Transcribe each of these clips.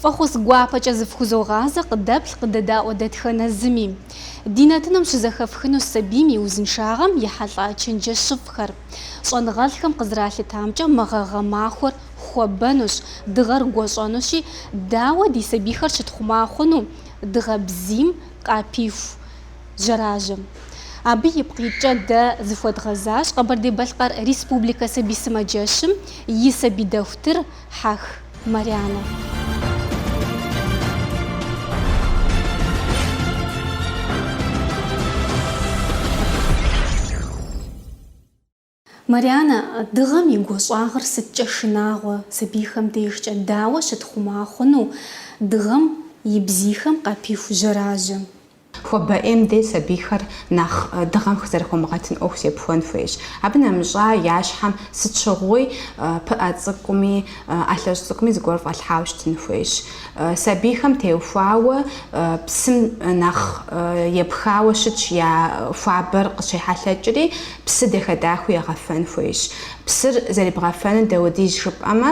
Фӏэхъус гуапэкӏэ зыфхузогъазэ къыдэплъ къыдэдаӏуэ дэтхэнэ зыми. Ди нэтыным щызэхэфхынущ сабийм и узыншагъэм ехьэлӏа чэнджэщыфӏхэр. Щӏэныгъэлӏхэм къызэралъытамкӏэ мы гъэ гъэмахуэр хуэбэнущ, дыгъэр гуэщӏэнущи, дауэ ди сабийхэр щытхъума хъуну дыгъэ бзийм къапиху жьэражьэм. Абы ипкъ иткӏэ дэ зыхуэдгъэзащ Къэбэрдей-Балъкъэр Республикэ сабий сымаджэщым и сабий дохутыр Хьэх Марянэ. Марянэ, дыгъэм и гуащӏагъыр сыткӏэ шынагъуэ, сабийхэм дежкӏэ дауэ щытхъума хъуну дыгъэм и бзийхэм къапиху жьэражьэм? Хуабэ ӏейм дей сабийхэр нэхъ дыгъэм зэрыхомыгъэтын ӏуэху зепхуэн хуейщ. Абы нэмыщӏа я щхьэм сыт щыгъуи пыӏэ цӏыкӏуми ӏэлъэщӏ цӏыкӏуми зыгуэр фӏэлъхьауэ щытын хуейщ. Сабийхэм теухуауэ псым нэхъ епхауэ щытщ, я хуабэр къыщехьэлъэкӏри псы дахэ-дахэу егъэфэн хуейщ. Псыр зэребгъэфэнур дауэдиз жыпӏэмэ,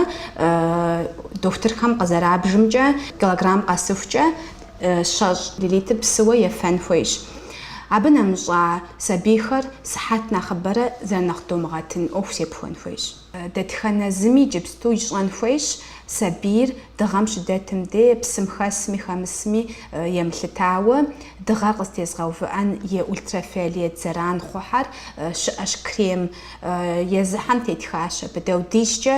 дохутырхэм къызэрабжымкӏэ, килограмм къэсыхукӏэ, щэщӏ миллилитр псыуэ ефэн хуейщ. Абы нэмыщӏа сабийхэр сыхьэт нэхъыбэрэ зэрынэхъ домыгъэтын ӏуэху зепхуэн хуейщ. Дэтхэнэ зыми иджыпсту ищӏэн хуейщ сабийр дыгъэм щыдэтым де, псым хэсми хэмысми емылъытауэ, дыгъэр къызтезгъэувыӏэн и ультрафиолет зэран хъухьэр щыӏэщ крем, езыхьэм тетхащ абы, дауэдизкӏэ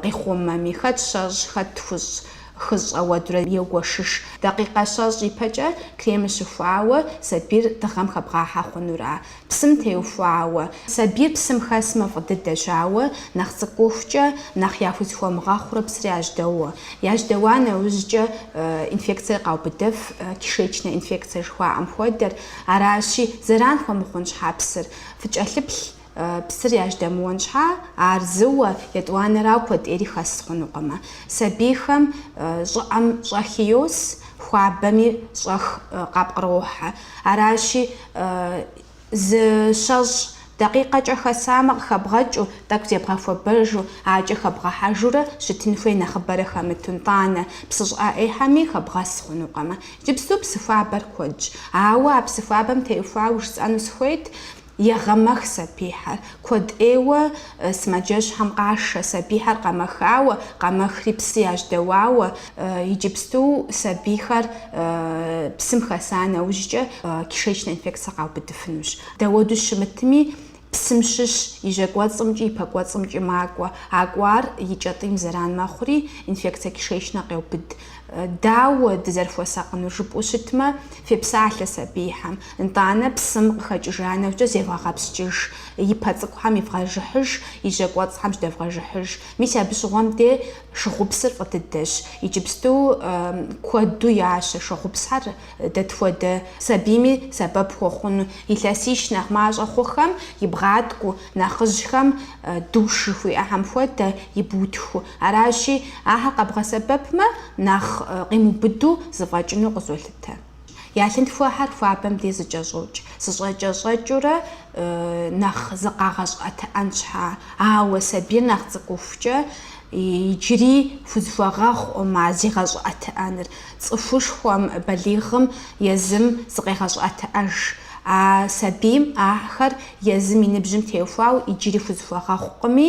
къихъумэми, хэт щэщӏ, хэт тхущӏ, Хыщӏ, ауэдурэ егуэшыж. Дакъикъэ щэщӏ ипэкӏэ кремыр щыхуауэ сабийр дыгъэм хэбгъахьэ хъунура. Псым теухуауэ. Сабийр псым хэсмэ фӏы дыдэщ, ауэ нэхъ цӏыкӏухукӏэ нэхъ яхузэхуэмыгъэхъурэ псыр яжьэдоуэ. Яжьэдэуа нэужькӏэ инфекцэр къаубыдэф, кишечнэ инфекцэ жыхуаӏэм хуэдэр. Аращи, зэран хуэмыхъун щхьа псыр фыкӏэлъыплъ. Псыр яжьэдэмыуэн щхьа, ар зыуэ, етӏуанэрау куэд ӏейри хэс хъунукъымэ. Сабийхэм щӏыӏэм щӏэхи йос, хуабэми щӏэх къапкърохьэ. Аращи, зы щэщӏ дакъикъэкӏэ хэсамэ, къыхэбгъэкӏыу, тӏэкӏу зебгъэхуэбэжу, акӏэ хэбгъэхьэжурэ щытын хуей нэхъыбэрэ хэмыту, нтӏанэ, псы щӏыӏэ ӏейхьэми хэбгъэс хъунукъымэ. Иджыпсту псы хуабэр куэдщ. Ауэ а псы хуабэм теухуауэ жысӏэну сыхуейт, Егъэмэх сабийхэр. Куэд ӏейуэ сымаджэщхьэм къашэ, сабийхэр къэмэхауэ, къэмэхри псы яжьэдэуауэ, иджыпсту сабийхэр псым хэса нэужькӏэ кишечнэ инфекцэ къаубыдыфынущ. Дауэду щымытми, псым щыщ и жьэкӏуэцӏымкӏи и пэкӏуэцӏымкӏи макӏуэ. А кӏуар и кӏэтӏийм зэран мэхъури, инфекцэ кишечнэ къеубыд. Дауэ дызэрыхуэсакъынур жыпӏэу щытмэ, фепсалъэ сабийхэм. Нтӏанэ псым къыхэкӏыжа нэужькӏэ зевгъэгъэпскӏыж, и пэ цӏыкӏухэм ивгъэжыхьыж, и жьэ кӏуэцӏхэм жьэдэвгъэжыхьыж. Мис абы щыгъуэм де шыгъупсыр фӏы дыдэщ. Иджыпсту куэду ящэ шыгъупсхэр дэт хуэдэ сабийми сэбэп хуэхъуну. Илъэсищ нэхъ мащӏэ хъухэм ибгъаткӏуу, нэхъыжьхэм душ жыхуиӏэхэм хуэдэ ибутхыу, Аращи, ахэр къэбгъэсэбэпмэ, нэхъ къимыубыду зэфӏэкӏыну къызолъытэ. Я лъынтхуэхэр хуабэм де зэкӏэщӏокӏ, зэкӏэщӏэкӏыурэ нэхъ зыкъагъэщӏыӏэтыӏэн щхьа. Ауэ сабийр нэхъ цӏыкӏухукӏэ, иджыри хузэхуэгъэхъукъым а зигъэщӏыӏэтыӏэныр. Цӏыхушхуэм, балигъым, езым зыкъегъэщӏыӏэтыӏэж. А сабийм ахэр езым и ныбжьым теухуауэ иджыри хузэхуэгъэхъукъыми,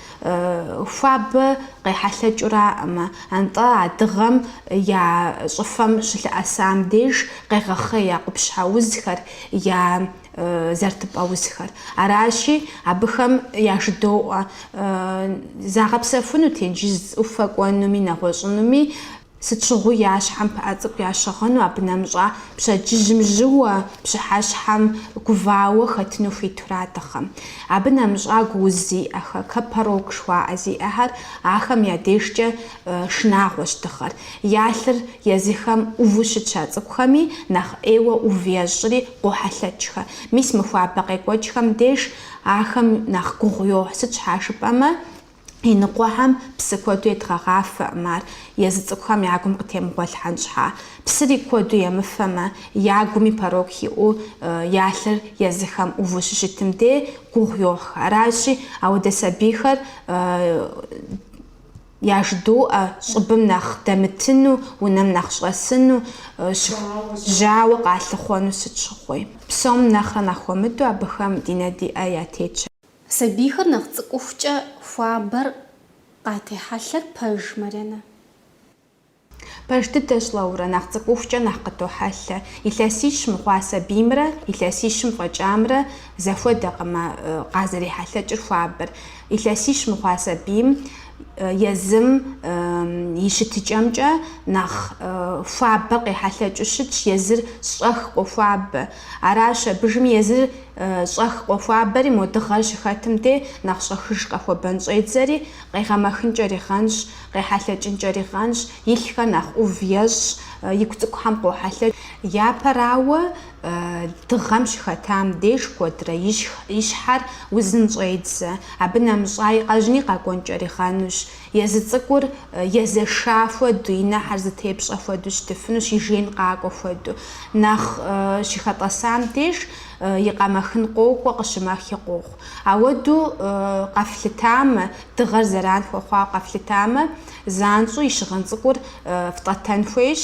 Хуабэ къехьэлъэкӏыуракъым, атӏэ а дыгъэм я щӏыфэм щылъэӏэсам деж къегъэхъей я къупщхьэ узхэр, я зэрытыпӏэ узхэр. Аращи, абыхэм яжыдоӏэ, загъэпсэхуну тенджыз ӏуфэ кӏуэнуми нэгъуэщӏынуми. Сыт щыгъуи я щхьэм пыӏэ цӏыкӏу ящыгъыну, абы нэмыщӏа пщэдджыжьым жьыуэ, пщыхьэщхьэм гувауэ хэтыну хуитурэ а дыгъэм. Абы нэмыщӏа гу уз зиӏэхэр, гу порок жыхуаӏэ зиӏэхэр, ахэм я дежкӏэ шынагъуэщ дыгъэр. Я лъыр езыхэм ӏуву щытщ а цӏыкӏухэми нэхъ ӏейуэ ӏув ещӏри къохьэлъэкӏхэ. Мис мы хуабэ къекӏуэкӏхэм деж ахэм нэхъ гугъу йохь, сыт щхьа жыпӏэмэ, Иныкъуэхэм псы куэду едгъэгъафэкъым ар, езы цӏыкӏухэм я гум къытемыгъуэлъхьэн щхьа. Псыри куэду емыфэмэ, я гуми порок иӏэу я лъыр езыхэм ӏуву щыщытым де гугъу йохь. Аращи, ауэдэ сабийхэр яжыдоӏэ щӏыбым нэхъ дэмытыну, унэм нэхъ щӏэсыну, жьауэ къалъыхъуэну сыт щыгъуи. Псом нэхърэ нэхъ хуэмыдэу абыхэм ди нэ ди ӏэ ятетщ. Сабийхэр нэхъ цӏыкӏухукӏэ хуабэр къатехьэлъэр пэж, Марьянэ? Пэж дыдэщ, Лаурэ, нэхъ цӏыкӏухукӏэ нэхъ къытохьэлъэ. Илъэсищ мыхъуа сабиймрэ илъэсищым фӏэкӏамрэ зэхуэдэкъым а къазэрехьэлъэкӏыр хуабэр. Илъэсищ мыхъуа сабийм езым и щытыкӏэмкӏэ нэхъ хуабэр къехьэлъэкӏыу щытщ, езыр щӏэх къохуабэ. Аращ абы жьыми езы щӏэх къохуабэри мо дыгъэр щыхэтым де нэхъ щӏэхыж къэхуэбэн щӏедзэри, къегъэмэхынкӏэри гъэнщ, къехьэлъэкӏынкӏэри гъэнщ, и лъхэр нэхъ ӏув ещӏ, и гу цӏыкӏухэм къохьэлъэкӏ. Япэрауэ, дыгъэм щыхэтам деж куэдрэ и щхьэр узын щӏедзэ, абы нэмыщӏа и къэжьыни къэкӏуэнкӏэри гъэнущ. Езы цӏыкӏур езэша хуэду, и нэхьэр зытепщӏэ хуэду щытыфынущ, и жеин къакӏуэ хуэду. Нэхъ щыхэтӏэсам деж и къэмэхын къокӏуэ, къыщымэхи къохъу. Ауэду къэфлъытамэ, дыгъэр зэран хуэхъуауэ къэфлъытамэ, занщӏэу и щыгъын цӏыкӏур фтӏэтэн хуейщ,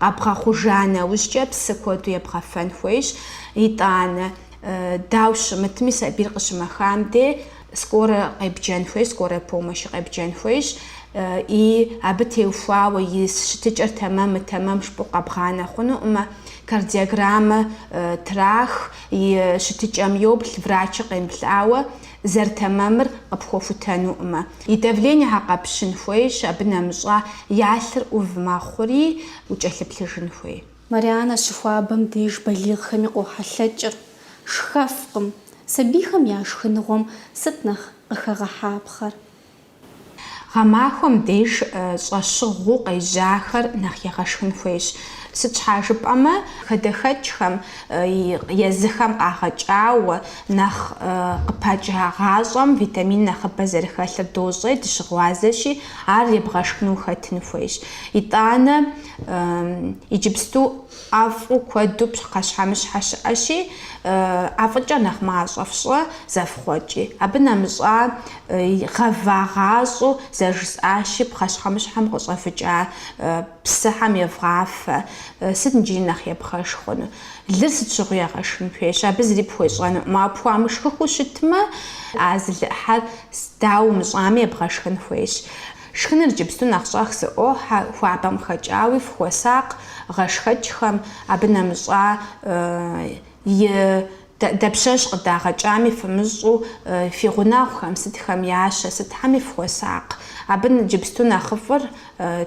Къэбгъэхъужа нэужькӏэ псы куэду ебгъэфэн хуейщ, итӏанэ, дауэ щымытми, сабийр къыщымэхам де скорэ къебджэн хуейщ, скорэ помощи къебджэн хуейщ, и абы теухуауэ и щытыкӏэр тэмэмы, тэмэм жыпӏу къэбгъанэ хъунукъымэ, кардиограммэ трах, и щытыкӏэм йоплъ, врачыр къемыплъауэ, зэрытэмэмыр къыпхуэхутэнукъымэ. И давлениехэр къэпщын хуейщ, абы нэмыщӏа я лъыр ӏув мэхъури, укӏэлъыплъыжын хуей. Марианэ щыхуабэм деж балигъхэми къохьэлъэкӏыр шхэфкъым, сабийхэм я шхыныгъуэм сыт нэхъ къыхэгъэхьапхъэр? Гъэмахуэм деж щӏэщыгъуу къежьахэр нэхъ егъэшхын хуейщ. Сыт щхьа жыпӏэмэ, хадэхэкӏхэм, езыхэм къагъэкӏауэ, нэхъ къыпыкӏагъащӏэм витамин нэхъыбэ зэрыхэлъыр дощӏей, дыщыгъуазэщи, ар ебгъэшхыну хэтын хуейщ. Итӏанэ иджыпсту ӏэфӏу куэду пхъэщхьэмыщхьэ щыӏэщи, ӏэфӏыкӏэ нэхъ мащӏэ фщӏы зэфхъуэкӏи. Абы нэмыщӏа, гъэвагъащӏэу зэрыжысӏащи, пхъэщхьэмыщхьэм къыщӏэвыкӏа псыхьэм евгъафэ. Сыт иджыри нэхъ ебгъэшх хъуну? Лыр сыт щыгъуи егъэшхын хуейщ, абы зыри пхуещӏэнукъым. Ауэ пхуамышхыхыу щытмэ, а зы лы ӏыхьэр дауэ умыщӏами ебгъэшхын хуейщ. Шхыныр иджыпсту нэхъ щӏэх зыӏохьэ, хуабэм хэкӏауи фыхуэсакъ, гъэшхэкӏхэм, абы нэмыщӏа и дапщэщ къыдагъэкӏами фымыщӏу, фи гъунэгъухэм, сытхэм ящэ, сытхьэми фыхуэсакъ. Абы иджыпсту нэхъыфӏыр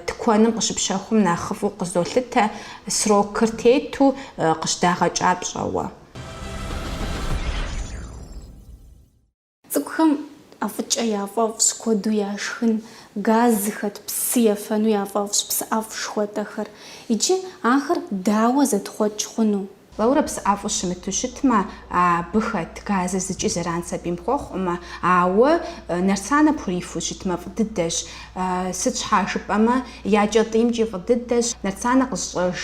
тыкуэным къыщыпщэхум нэхъыфӏу къызолъытэ, срокыр тету къыщыдагъэкӏа пщӏэуэ. Цӏыкӏухэм ӏэфӏыкӏэ яфӏэфӏщ куэду яшхын, газ зыхэт псы ефэну яфӏэфӏщ псыӏэфӏ шхуэтӏэхэр. Иджы ахэр дауэ зэтхъуэкӏ хъуну? Лаурэ, псыӏэфӏу щымыту щытмэ, абы хэт газыр зыкӏи зэран сабийм хуэхъукъымэ, ауэ Нарсанэ пхурифу щытмэ, фӏы дыдэщ. Сыт щхьа жыпӏэмэ, я кӏэтӏиймкӏи фӏы дыдэщ. Нарсанэ къыщӏэж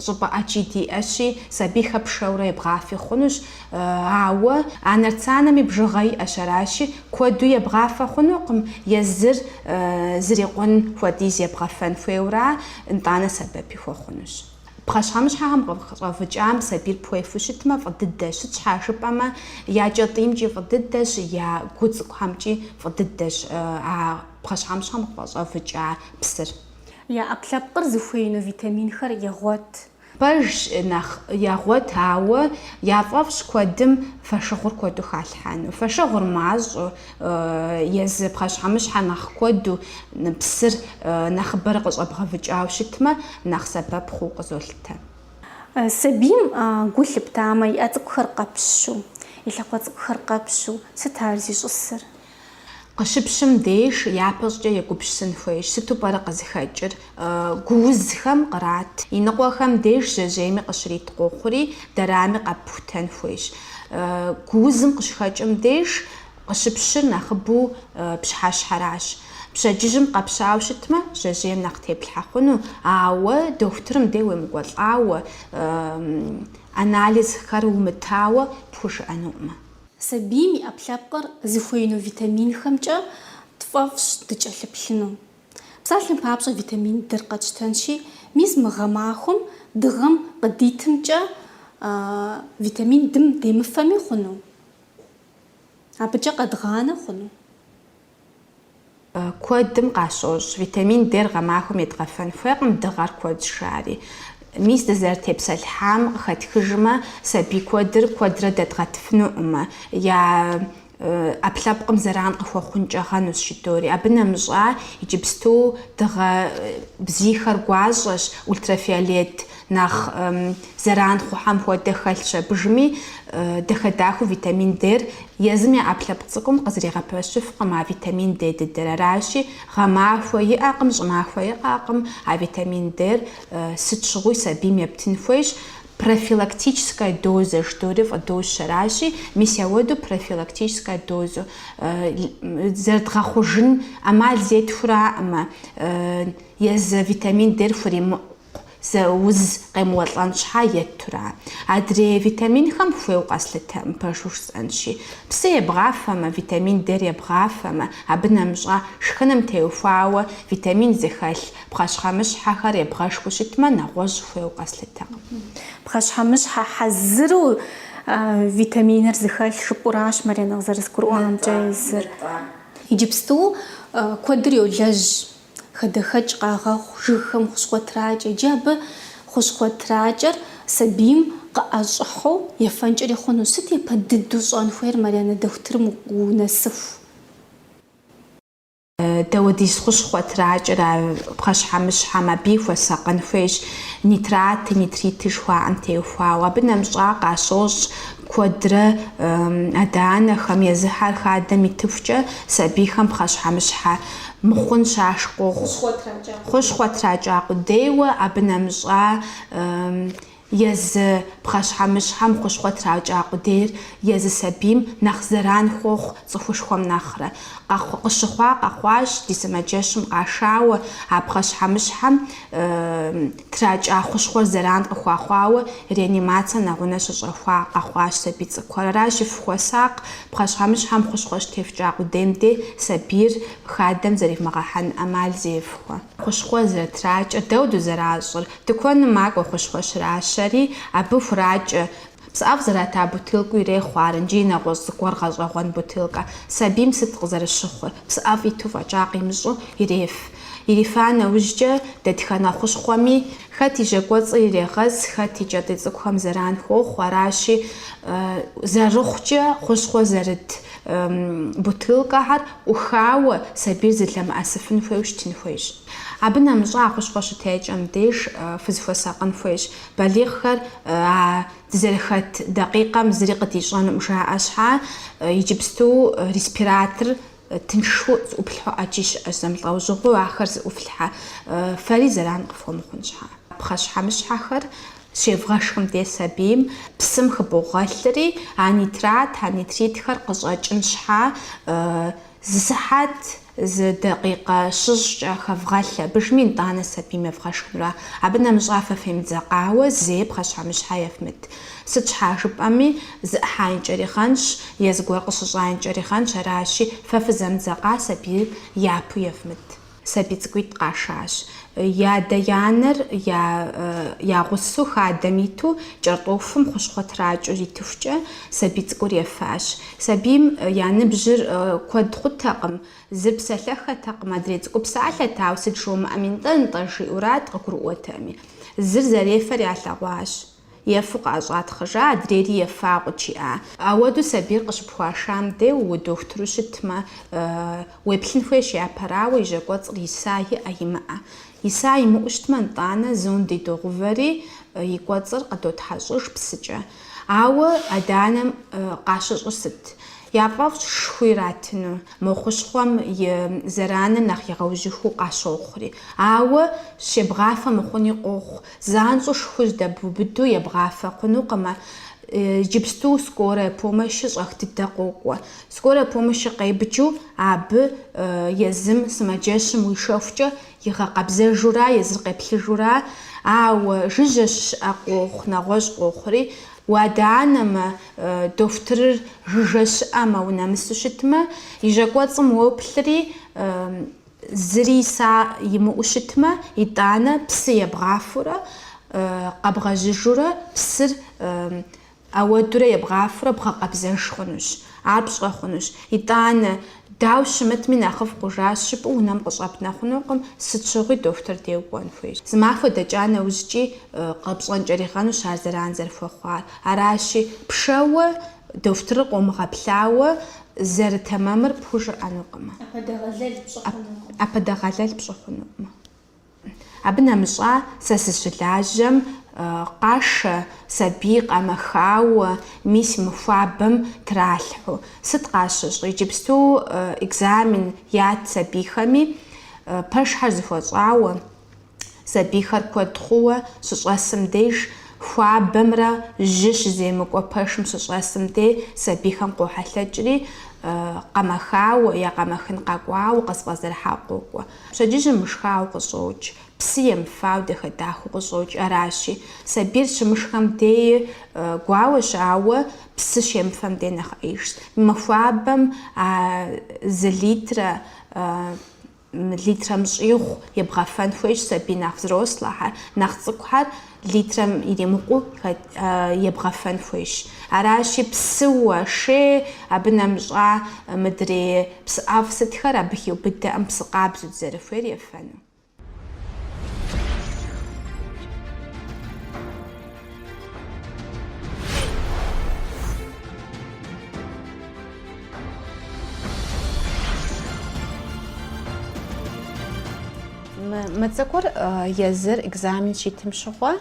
Щӏыпӏэ ӏэджи диӏэщи, сабийхэр пшэурэ ебгъафи хъунущ. Ауэ а нартсанэми бжыгъэ иӏэщ, аращи, куэду ебгъафэ хъунукъым, езыр зрикъун хуэдиз ебгъэфэн хуейуэра, нтӏанэ сэбэпи хуэхъунущ. Пхъэщхьэмыщхьэхэм къыщӏэвыкӏам сабийр пхуефу щытмэ, фӏы дыдэщ. Сыт щхьа жыпӏэмэ, я кӏэтӏиймкӏи фӏы дыдэщ, я гу цӏыкӏухэмкӏи фӏы дыдэщ а пхъэщхьэмыщхьэм къыхэщӏэвыкӏа псыр. Я ӏэпкълъэпкъыр зыхуеину витаминхэр егъуэт. Пэжщ, нэхъ егъуэт, ауэ яфӏэфӏщ куэдым фэшыгъур куэду халъхьэну. Фэшыгъур мащӏэу, езы пхъэщхьэмыщхьэ нэхъ куэду, псыр нэхъыбэрэ къыщӏэбгъэвыкӏауэ щытмэ, нэхъ сэбэп хъууэ къызолъытэ. Сабийм гу лъыптамэ, и ӏэ цӏыкӏухэр къэпщу, и лъакъуэ цӏыкӏухэр къэпщу, сыт ар зищӏысыр? Къыщыпщым деж япэщӏыкӏэ егупщысын хуейщ, сыту пӏэрэ къызыхэкӏыр? Гуузхэм кърат. Иныкъуэхэм деж жьэжьейми къыщрит къохъури, дэрами къэпхутэн хуейщ. Гуузым къыщыхэкӏым деж къыщыпщыр нэхъыбэу пщыхьэщхьэращ. Пщэдджыжьым къэпщауэ щытмэ, жьэжьейм нэхъ теплъхьэ хъуну, ауэ дохутырым де уемыкӏуэлӏауэ, анализхэр умытауэ пхужыӏэнукъымэ. Сабийм и ӏэпкълъэпкъыр зыхуеину витаминхэмкӏэ тфӏэфӏщ дыкӏэлъыплъыну. Псалъэм папщӏэ, витамин Д-р къэтщтэнщи, мис мы гъэмахуэм дыгъэм къыдитымкӏэ витамин Д-м демыфэми хъуну? Абыкӏэ къэдгъанэ хъуну? Куэдым къащощӏ витамин Д-р гъэмахуэм едгъэфэн хуейкъым дыгъэр куэдщ жари. Мис дызэрытепсэлъхьам къыхэтхыжмэ, сабий куэдыр куэдрэ дэдгъэтыфынукъымэ, я ӏэпкълъэпкъым зэран къыхуэхъункӏэ хъунущ жыдори. Абы нэмыщӏа, иджыпсту дыгъэ бзийхэр гуащӏэщ ультрафиолет Нэхъ зэран хъухэм хуэдэ хэлъщ абы жыми, дахэ-дахэу витамин Д-р езым я ӏэпкълъэпкъ цӏыкӏум къызригъэпэщыфкъым а витамин Д дыдэр. Аращи, гъэмахуэ иӏэкъым, щӏымахуэ иӏэкъым а витамин Д-р сыт щыгъуи сабийм ептын хуейщ. Профилактическэ дозэ ждори фӏыдощ, аращи, мис ауэдэу профилактическэ дозу зэрыдгъэхъужын ӏэмал зетхуэраӏымэ, езы витамин Д-р хуримыкъуу. Зы уз къемыуэлӏэн щхьа еттура. Адрей витаминхэм хуейу къэслъытэкъым, пэжу жысӏэнщи. Псы ебгъафэмэ, витамин Д-р ебгъафэмэ, абы нэмыщӏа шхыным теухуауэ витамин зыхэлъ пхъэщхьэмыщхьэхэр ебгъэшхыу щытмэ, нэгъуэщӏ хуейу къэслъытэкъым. Пхъэщхьэмыщхьэ хьэзыру витаминыр зыхэлъ жыпӏэуращ Маринэ къызэрызгурыӏуамкӏэ езыр. Иджыпсту куэдыр йолэжь Хадэхэкӏ къагъэхъу жыгхэм хущхъуэ тракӏэ. Иджы абы хущхъуэ тракӏэр сабийм къыӏэщӏыхьу ефэнкӏэри хъуну. Сыт япэ дыдэу щӏэн хуейр Марьянэ дохутырым унэсыху? Дэ ауэдиз хущхъуэ тракӏэр а пхъэщхьэмыщхьэм абыи хуэсакъын хуейщ, нитраты, нитриты жыхуаӏэм теухуауэ. Абы нэмыщӏа, къащощӏ Куэдрэ адэ-анэхэм езыхэр хадэм итыхукӏэ сабийхэм пхъэщхьэмыщхьэ мыхъун щашх къохъу. Хущхъуэ тракӏа къудейуэ абы нэмыщӏа езы пхъэщхьэмыщхьэм хущхъуэ тракӏа къудейр езы сабийм нэхъ зэран хуохъу цӏыхушхуэм нэхърэ. Къыщыхъуа къэхъуащ ди сымаджэщым къашауэ а пхъэщхьэмыщхьэм. Тракӏа хущхъуэр зэран къыхуахъуауэ реанимацэ нэгъунэ щыщӏэхуа къэхъуащ сабий цӏыкӏухэр. Аращи фыхуэсакъ, пхъэщхьэмыщхьэм хущхъуэ щытефкӏа къудейм де сабийр хадэм зэримыгъэхьэн ӏэмал зефхуэ. Хущхъуэ зэрытракӏэр дауэду зэращӏыр? Тыкуэным макӏуэ хущхъуэ щращэри, абы хуракӏэ Псыӏэфӏ зэрыта бутылкэу ирехъу ар икӏи и нэгъуэщӏ зыгуэр гъэщӏэгъуэн бутылкэ. Сабийм сыт къызэрыщыхъур? Псыӏэфӏ иту фӏэкӏа къимыщӏу иреф. Ирифа нэужькӏэ дэтхэнэ хущхъуэми, хэт и жьакӏуэцӏыр ирегъэс, хэт и кӏэтӏий цӏыкӏухэм зэран хуохъу, аращи, зэрыхъукӏэ хущхъуэ зэрыт бутылкэхэр ӏухауэ сабийр зылъэмыӏэсыфын хуейуэ щытын хуейщ. Абы нэмыщӏа а хущхъуэ щытекӏэм деж фызыхуэсакъын хуейщ. Балигъхэр а дызэрыхэт дакъикъэм зыри къыдищӏэнукъым жаӏэ щхьа, иджыпсту респиратор тыншу зыӏуплъхьу ӏэджи щыӏэщ, зэмылӏэужьыгъуэу ахэр зыӏуфлъхьэ, фэри зэран къыфхуэмыхъун щхьа. Пхъэщхьэмыщхьэхэр щевгъэшхым де сабийм псым хыбогъэлъри, а нитрат, а нитритхэр къыщӏэкӏын щхьа зы сыхьэт, Зы дакъикъэ щэщӏкӏэ хэвгъэлъ абы иужьми, нтӏанэ сабийм евгъэшхынура. Абы нэмыщӏа фэ фемыдзэкъауэ, зэи пхъэщхьэмыщхьэ ефмыт. Сыт щхьа жыпӏэми, зэӏыхьаинкӏэри хъунщ, е зыгуэр къыщыщӏаинкӏэри хъунщ, аращи, фэ фызэмыдзэкъа сабийр япэу ефмыт. Сабий цӏыкӏуитӏ къашащ. Я адэ я анэр я я гъусэу хадэм иту кӏэртӏофым хущхъуэ тракӏыу итыхукӏэ, сабий цӏыкӏур ефащ. Сабийм я ныбжьыр куэд хъутэкъым, зыр псэлъэхэтэкъым, адрей цӏыкӏур псалъэт, ауэ сыт жумыӏэми, нтӏэ-нтӏэ жиӏурат, къыгурыӏуэтэми. Зыр зэрефэр ялъэгъуащ. Ефу къыӏэщӏатхъыжа, адрейри ефа къучиӏа. Ауэду сабийр къыщыпхуашам де уэ дохутыру щытмэ, уеплъын хуейщ япэрауэ, и жьакӏуэцӏыр иса иӏэ-имыӏэ. Иса имыӏэу щытмэ, нтӏанэ зонди догъувэри, и кӏуэцӏыр къыдотхьэщӏыж псыкӏэ. Ауэ адэ-анэм къащыщӏыр сыт? Я фӏэфӏщ шху иратыну, мо хущхъуэм и зэраныр нэхъ игъэужьыхыу къащохъури. Ауэ щебгъафэ мыхъуни къохъу, занщӏэу шхур здэбубыду ебгъафэ хъунукъымэ. Иджыпсту скорая помощи щӏэх дыдэ къокӏуэ. Скорая помощи къебджу абы езым сымаджэщым уишэхукӏэ игъэкъэбзэжура, езыр къеплъыжура, ауэ жыжьэ щыӏэ къохъу, нэгъуэщӏ къохъури, уадэ-анэмэ, дохутырыр жыжьэ щыӏэмэ, унэмысу щытмэ, и жьэ кӏуэцӏым уоплъри, Зыри иса имыӏэу щытмэ, итӏанэ псы ебгъафурэ, къэбгъэжьыжурэ псыр ауэдурэ ебгъафурэ бгъэкъэбзэж хъунущ, ар пщӏэ хъунущ. Итӏанэ, дауэ щымытми, нэхъыфӏ хъужащ жыпӏэу унэм къыщӏэпнэ хъунукъым, сыт щыгъуи дохутыр де укӏуэн хуейщ. Зы махуэ дэкӏа нэужькӏи къэпщӏэнкӏэри хъунущ ар зэран зэрыхуэхъуар. Аращи, пшэуэ Дохутырыр къомыгъэплъауэ зэрытэмэмыр пхужыӏэнукъымэ. ӏэпэдэгъэлэл пщӏы хъунукъымэ. Абы нэмыщӏа сэ сыщылажьэм къашэ сабий къэмэхауэ, мис мы хуабэм тралъхьу. Сыт къащыщӏ, иджыпсту экзамен ят сабийхэми, пэшхэр зэхуэщӏауэ. сабийхэр куэд хъууэ щыщӏэсым деж, хуабэмрэ жьы щыземыкӏуэ пэшым щыщӏэсым де сабийхэм къохьэлъэкӏри, къэмэхауэ е къэмэхын къэкӏуауэ къызэфӏэзэрыхьауэ къокӏуэ. Пщэдджыжьыр мышхауэ къыщӏокӏ, псы емыфауэ дахэ-дахэу къыщӏокӏ. Аращи, сабийр щымышхэм дей гуауэщ, ауэ псы щемыфэм дей нэхъ ӏеижщ. Мы хуабэм а зы литрэ литрэм щӏигъу ебгъэфэн хуейщ сабий нэхъ взрослэхэр, нэхъ цӏыкӏухэр литрэм иримыкъуу ебгъэфэн хуейщ. Аращи, псыуэ, шей абы нэмыщӏа мыдрей псы ӏэфӏ сытхэр абы хиубыдэкъым псы къабзэу дызэрыхуейр ефэну. Мы цӏыкӏур езыр экзамен щитым щыгъуэ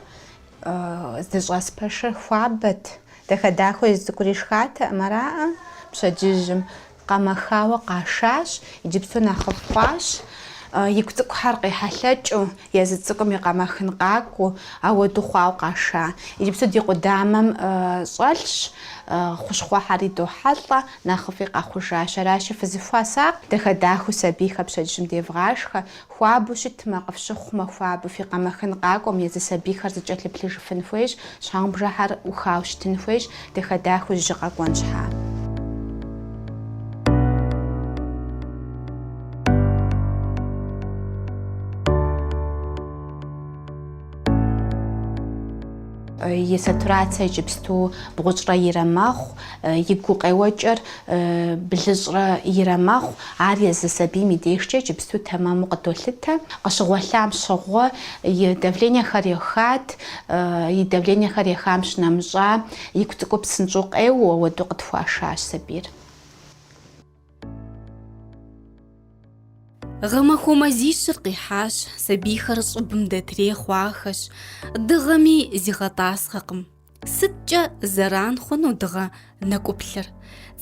здыщӏэс пэшыр хуабэт. Дахэ-дахэу езы цӏыкӏури шхатэкъым араӏэ пщэдджыжьым. Къэмэхауэ къашащ, иджыпсту нэхъыфӏ хъуащ. Игу цӏыкӏухэр къехьэлъэкӏыу, езы цӏыкӏум и къэмэхын къакӏуэу, ауэду хъуауэ къаша. Иджыпсту ди къудамэм щӏэлъщ, хущхъуэхэр идохьэлӏэ, нэхъыфӏи къэхъужащ. Аращи, фызыхуэсакъ, дахэ-дахэу сабийхэр пщэдджыжьым девгъашхэ. Хуабэу щытмэ, къыфщыхъумэ, хуабэу фи къэмэхын къакӏуэм, езы сабийхэр зыкӏэлъыплъыжыфын хуейщ, щхьэгъубжэхьэр ӏухауэ щытын хуейщ, дахэ-дахэу жьы къэкӏуэн щхьа. И сатурацэ иджыпсту бгъущӏрэ ирэ мэхъу. И гукъеуэкӏэр блыщӏрэ ирэ мэхъу, ар езы сабийм и дежкӏэ иджыпсту тэмэму къыдолъытэ. Къыщыгъуэлъам щыгъуэ и давлениехэр ехат, и давлениехэр ехам щынэмыщӏа, игу цӏыкӏу псынщӏэу къеуэу, апхуэдэу къытхуашащ сабийр. Гъэмахуэ мазищыр къихьащ, сабийхэр щӏыбым дэтрей хъуахэщ, дыгъэми зигъэтӏасхъэкъым. Сыткӏэ зэран хъуну дыгъэ нэкӏуплъыр?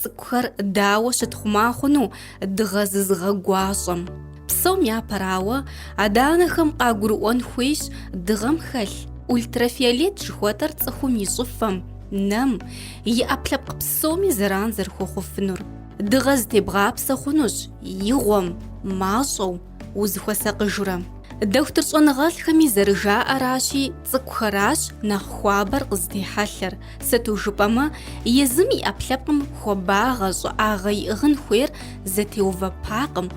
Цӏыкӏухэр дауэ щытхъумэ хъуну дыгъэ зызыгъэгуащӏэм? Псом япэрауэ, адэ-анэхэм къагурыӏуэн хуейщ дыгъэм хэлъ ультрафиолет жыхуэтӏэр цӏыхум и щӏыфэм, нэм, и ӏэпкълъэпкъ псоми зэран зэрыхуэхъуфынур. Дыгъэ зытебгъапсэ хъунущ игъуэм, мащӏэу, Узыхуэсакъыжурэ. Дохутыр щӏэныгъэлӏхэми зэрыжаӏэращи, цӏыкӏухэращ нэхъ хуабэр къызытехьэлъэр, сыту жыпӏэмэ, езым и ӏэпкълъэпкъым хуабагъэ, щӏыӏагъэ иӏыгъын хуейр зэтеувэпакъым,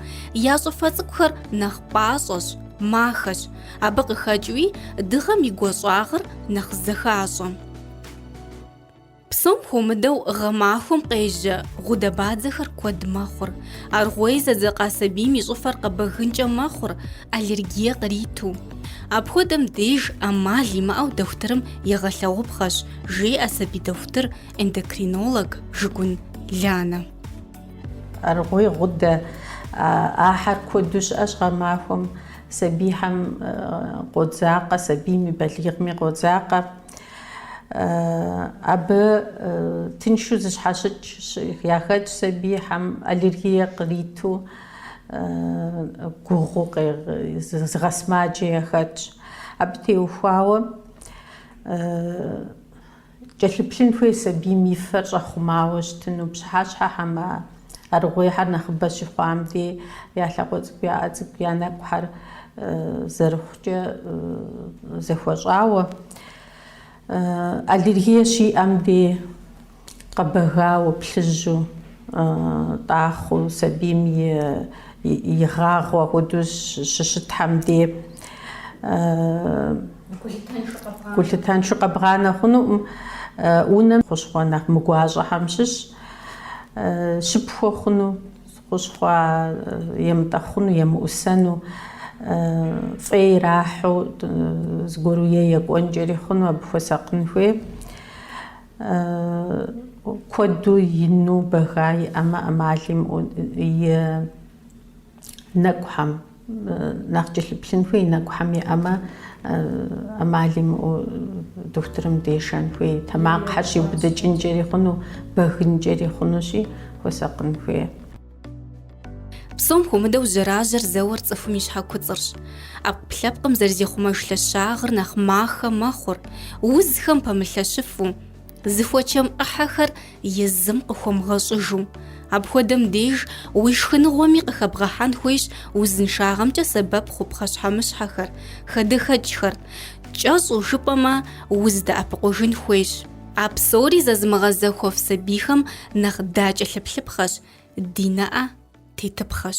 я щӏыфэ цӏыкӏухэр нэхъ пӏащӏэщ, махэщ, абы къыхэкӏыуи дыгъэм и гуащӏагъыр нэхъ зэхащӏэ. Псом хуэмыдэу гъэмахуэм къежьэ гъудэбадзэхэр куэд мэхъур. Аргъуей зэдзэкъа сабийм и щӏыфэр къэбэгынкӏэ мэхъур, аллергие къриту. Апхуэдэм деж ӏэмал имыӏэу дохутырым егъэлъэгъупхъэщ, жеӏэ сабий дохутыр, эндокринолог Жыгун Ланэ. Аргъуей гъудэ, ахьэр куэду щыӏэщ гъэмахуэм, сабийхьэм къодзакъэ, сабийми балигъми къодзакъэ. Абы тыншу зыщхьэщыкӏ яхэтщ сабийхьэм аллергие къриту, гугъуу зыгъэсымаджэ яхэтщ. Абы теухуауэ кӏэлъыплъын хуей сабийм и фэр щӏэхъумауэ щытыну пщыхьэщхьэхэм а Аргъуейхьэр нэхъыбэ щыхъуам де я лъакъуэ цӏыкӏу я ӏэ цӏыкӏу я нэкӏухьэр зэрыхъукӏэ зэхуэщӏауэ, аллергие щиӏэм де къэбэгауэ, плъыжьу, тӏахъуу сабийм и гъагъуэ апхуэдэу щыщытхьэм де гулъытэншэу къэбгъанэ хъунукъым. Унэм хущхъуэ нэхъ мыгуащӏэхьэм щыщ. щыпхуэ хъуну, хущхъуэ емытӏэхъуну, емыӏусэну фӏей ирахьу зыгуэру е екӏуэнкӏэри хъуну абы хуэсакъын хуей. Куэду ину бэга иӏэмэ ӏэмал имыӏу и нэкӏухэм. Нэхъ кӏэлъыплъын хуей нэкӏухьэм иӏэмэ, ӏэмал имыӏэу дохутырым дешэн хуей, тэмакъхьэр щиубыдыкӏынкӏэри хъуну, бэгынкӏэри хъунущи, хуэсакъын хуей. Псом хуэмыдэу жьэражьэр зэуэр цӏыхум и щхьэ куцӏырщ. ӏэпкълъэпкъым зэрызехъумэж лъэщагъыр нэхъ махэ мэхъур, узхэм пэмылъэщыфу, Зыхуэчэм ӏыхьэхэр езым къыхуэмыгъэщӏыжу. Апхуэдэм деж уи шхыныгъуэми къыхэбгъэхьэн хуейщ узыншагъэмкӏэ сэбэп хъу пхъэщхьэмыщхьэхэр, хадэхэкӏхэр. Кӏэщӏу жыпӏэмэ, уздэӏэпыкъужын хуейщ. А псори зэзымыгъэзэхуэф сабийхэм нэхъ дакӏэлъыплъыпхъэщ, ди нэӏэ тетыпхъэщ.